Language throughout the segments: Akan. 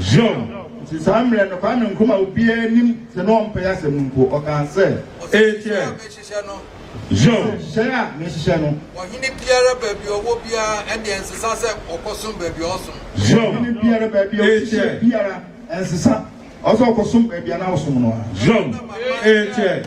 Zion, nti saa mmerɛ no, Kwame Nkrumah obiara nim sɛ na ɔmpɛ asɛm no mpo, ɔkaa sɛ. Ekyɛ, Zion, hyehyɛe a mehyehyɛ no. Ɔhene biara baabi a ɔwɔ biara, ɛnneɛ ɛnsesa sɛ ɔkɔsom baabi a ɔsom. Zion, ɔhene biara baabi a ɔhyehyɛ biara, ɛnsesa ɔsɛ ɔkɔsom baabi a na ɔsom no a. Zion, ekyɛ.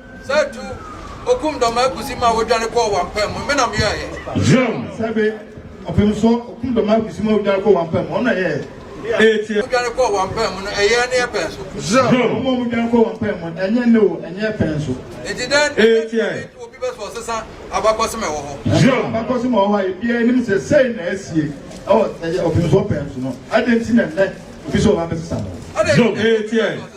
Sɛ tu okum dɔm akusi ma wodwane kɔɔ wampam mu, me na meyɔeɛ. Zion, sɛ be ɔpem so okum dɔm akusi ma wodwane kɔɔ wampam mu, ɔno na ɛyɛɛ. Ee, tie. Wodwane kɔɔ wampam mu no, ɛyɛɛ ne yɛ pɛn so. Zion, wɔn a wɔdwane kɔɔ wampam mu no, ɛnyɛ ne o, ɛnyɛ yɛ pɛn so. Enti dɛn nti na ɛtumi to obi bɛ sɛ ɔsesa abakɔsem a ɛwɔ hɔ? Zion, abakɔsem a ɛwɔ hɔ a ebiara nim sɛ sei na asie wɔ ɛyɛ ɔpem so ɔpɛn so no, adɛn nti na nnɛ obi sɛ ɔbɛbɛsesa no? Zion, ee, tie.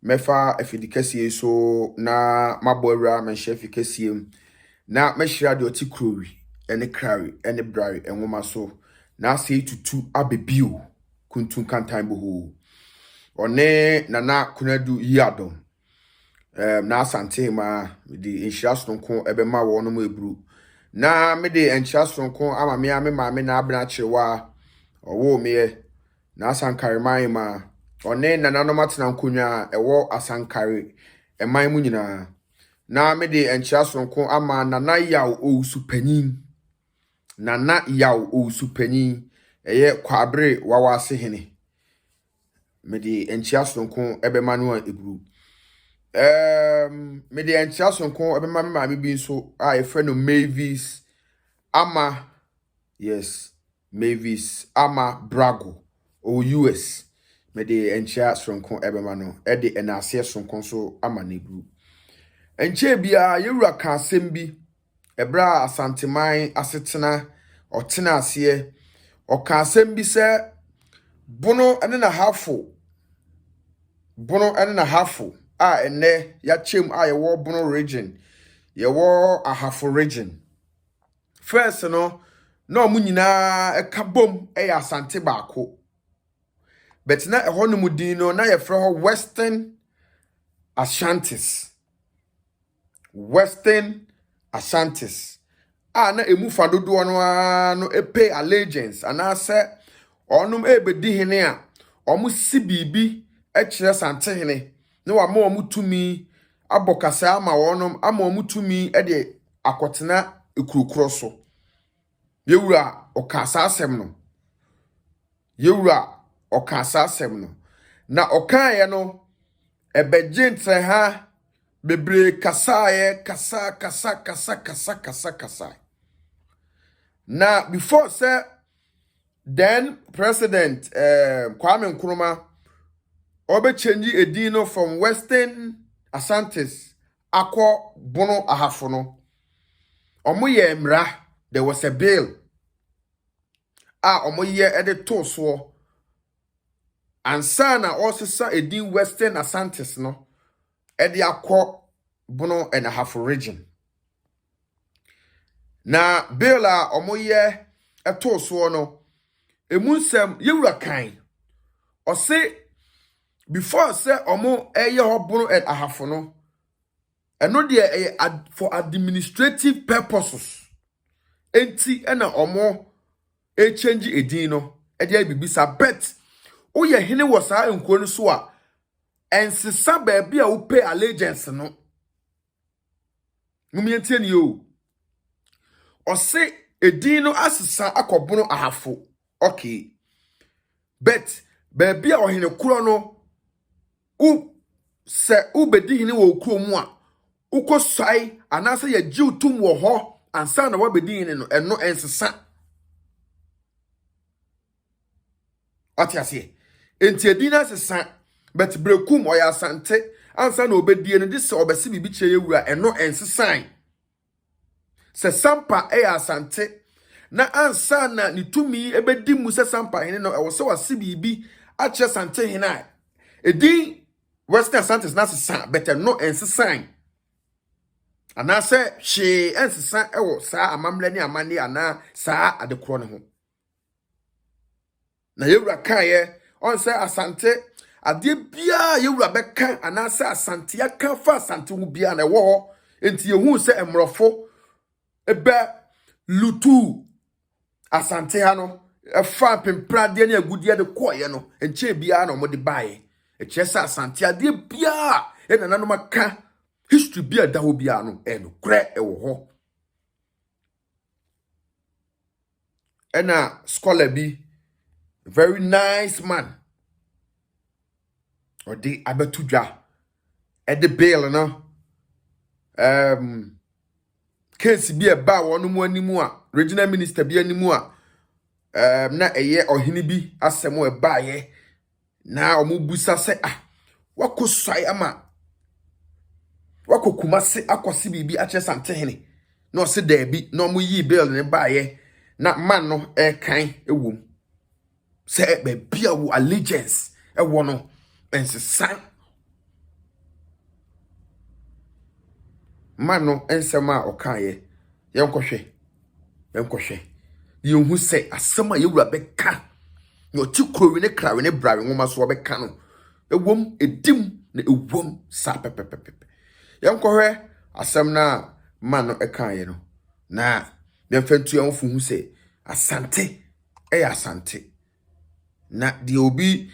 Mɛfa afidikɛseɛ yi so na mabɔ awura manhyɛ afi kɛseɛ mu, na mɛhyira deɛ ɔte kurowi ne krawi ne brawi nwoma so, na asɛe tutu abɛ bio, kuntun kantan bohoo. Ɔne Nana Konadu Yiadom, um, na Asante Hemaa, mede nhyira sononko ɛbɛma wɔn mo eburu, na mede nkyira sononko ama me a me maame na abena akyerewa ɔwoo meɛ, Na Asankare man ma ɔne nananom atena nkonnwa a ɛwɔ Asankare man mu nyinaa. Na mede nkyea soronko ama Nana Yaw Owusu Panyin. Nana Yaw Owusu Panyin, ɛyɛ Kwaabere Wawase Hene. Mede nkyea soronko bɛma no a ɛburu. Um, mede nkyea soronko bɛma me maame bi nso a yɛfrɛ no Mavis Ama. Yes, Mavis Ama Brago, ɔwɔ US. Mede nkyea soronko bɛma no, de nnaaseɛ soronko nso ama Negru. Ɛnkyɛɛ biara, yɛn Wura kaa asɛm bi, ɛberɛ a Asanteman asetena, ɔtenaa aseɛ, ɔkaa asɛm bi sɛ, Bono ne n'ahafo, Bono ne n'ahafo, a ɛnnɛ yɛakyɛm a yɛwɔ Bono Region, yɛwɔ Ahafo Region. First no, na wɔn nyinaa ka bom yɛ Asante baako. But na ɛhɔnom din no, na yɛfrɛ hɔ Western Ashantis. Western Ashantis. A na emu fa dodoɔ no ara no pay allegiance anaasɛ wɔnom rebɛdi hene a, wɔsi biribi kyerɛ Santehene na wama wɔn tumi abɔ kasaa ama wɔnom ama wɔn tumi de akɔtena kuro korɔ so. Yɛn wura ɔkaa saa asɛm no. Yɛn wura ɔkaa saa asɛm no. Na ɔkaeɛ no, ɛbɛgye ntrɛha bebree kasaeɛ, kasa, kasa, kasa, kasa, kasa, kasa. Na before sɛ then president eh, Kwame Nkrumah ɔbɛkyɛngye edin no from Western Asantes akɔ bono ahafo no, wɔyɛɛ mmara, there was a bill a wɔyɛ de too soɔ ansa na wɔresesa edin Western Asantes no de akɔ bono and ahafo region. Na bill a wɔyɛ too soɔ no, emu nsɛm yɛwura kan, ɔse before sɛ ɔmo ɛyɛ hɔ bono and ahafo no ɛno deɛ ɛyɛ for administrative purposes enti ɛna ɔmo ɛkyɛngye edin no ɛde ayɛ biribi sa bet woyɛ hene wɔ saa nkuro no so a ɛnsesa baabi a wopɛ allegiance no. Mom yɛntie nie o. Ɔse edin no asesa akɔ bono ahafo. Okay. But baabi a ɔhene korɔ no wo sɛ wobɛdi hene wɔ okuro mu a wokɔ suae anaasɛ yɛgye wo tom wɔ hɔ ansa na woabɛdi hene no ɛno ɛnsesa. ɔte aseɛ nti ɛdin no asesa but berɛkum ɔyɛ asante ansa na ɔbɛdie no de sɛ ɔbɛse biribi kyerɛ yɛ wura ɛno ɛnsesan sɛ sampa ɛyɛ asante na ansa na ne tumi ɛbɛdi mu sɛ sampa hene no ɛwɔ sɛ wase biribi akyerɛ sante hene a ɛdin western asantes no asesa but ɛno ɛnsesan anaasɛ hwee ɛnsesa ɛwɔ saa amammerɛ ne amanne anaa saa adekorɔ no ho Na yɛwura kaeɛ ɔn sɛ asante adeɛ biara a yɛwura bɛka anaasɛ asante aka fa asante ho biara na ɛwɔ hɔ nti yɛhuu sɛ mmorɔfo bɛ lutu asante ha no ɛfa mpempradeɛ ne agudeɛ de kɔɔeɛ no nkyɛn biara na wɔde baeɛ ɛkyerɛ sɛ asante adeɛ biara a nananom aka history bi a ɛda hɔ biara no ɛnokorɛ ɛwɔ hɔ Ɛna scholar bi, very nice man, ɔde abɛto dwa de bill no, ɛɛm, case bi a ɛbaa wɔn anim a, regional minister bi anim a, ɛɛm, na ɛyɛ ɔhene bi asɛm a ɛbaeɛ. Na wɔbisa sɛ, ah, wakɔ suae ama wakɔ kumase akɔse biribi akyerɛ santehene na ɔse daabi na wɔyii bill no baeɛ na man no ɛrekan wom sɛ baabi a wo allegiance ɛwɔ no ɛnsesa man no nsɛm a ɔkaeɛ Yɛnkɔhwɛ, yɛnkɔhwɛ, na yɛnhu sɛ asɛm a yɛwura bɛka, na ɔte kurowe ne krawe ne brawe nwoma so ɔbɛka no, ɛwom, ɛdim na ɛwom saa pɛpɛpɛpɛ. Yɛnkɔhwɛ asɛm no a ma no ɛkaeɛ no, na yɛmfa ntu yɛn ho fo hu sɛ asante ɛyɛ asante. Na deɛ obi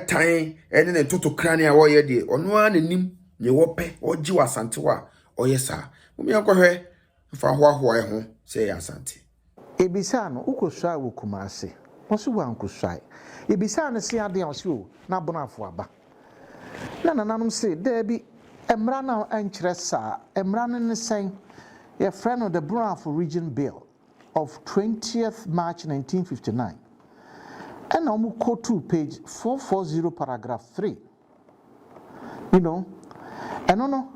tan ne ne totokranee a ɔreyɛ deɛ, ɔno ara na nim deɛ ɔpɛ. Ɔregye wɔ Asante hɔ a, ɔyɛ saa. Momyɛ nkɔhwɛ mfa hoahoa yɛn ho sɛ yɛyɛ Asante. Yɛbisaa no, wokɔsuae wɔ Kumase? Ɔse wankɔsuae. Yɛbisaa no se adeɛn a, ɔse oo, na Abonoafo aba. Na nananom se, daabi, mmara no ankyerɛ saa. Mmara no ne sɛn? Yɛfrɛ no The Bonoafo Region Bill. of twentieth March nineteen fifty nine ɛna ɔmo quotuu page four four zero paragraph three you know ɛno no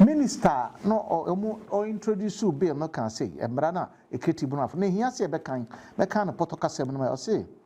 minister a na ɔ ɔmo ɔ introduce bill no kaa sei mmara no a ekiriti bu no afɔ na ehia sɛ yɛbɛkan mɛkan no pɔtɔ kasa mu no ma ɔse.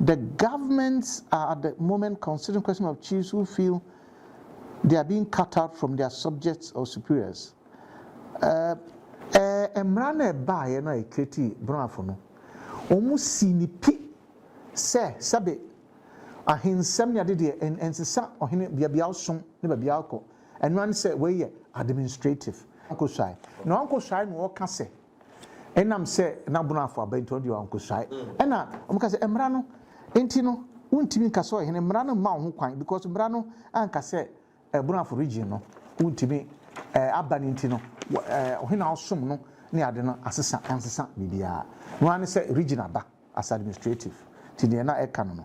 The governments are at the moment considering question of chiefs who feel they are being cut out from their subjects or superiors. Uh, ɛɛ eh, mmara no ɛbaeɛ no a ɛkreti brafo no wɔn si ne pi sɛ sɛbe ahensɛm ne ade deɛ ɛnsesa ɔhene beabea ɔsom ne beabea ɔkɔ ɛno ano sɛ wɔyɛ administrative nkoswae na ɔnkoswae na ɔka sɛ Ɛnam sɛ na Bono afo aba nti, ɔno deɛ wankosuae. Ɛna wɔka sɛ mmara no nti no wontumi nka sɛ ɔyɛ hene, mmara no mma wo ho kwan because mmara no anka sɛ Bono afo region no wontumi aba no nti no ɔhene a ɔsom no ne ade no asesa ansesa biribiara. Ɛno ara ne sɛ region aba as administrative nti deɛ na ɛka no no.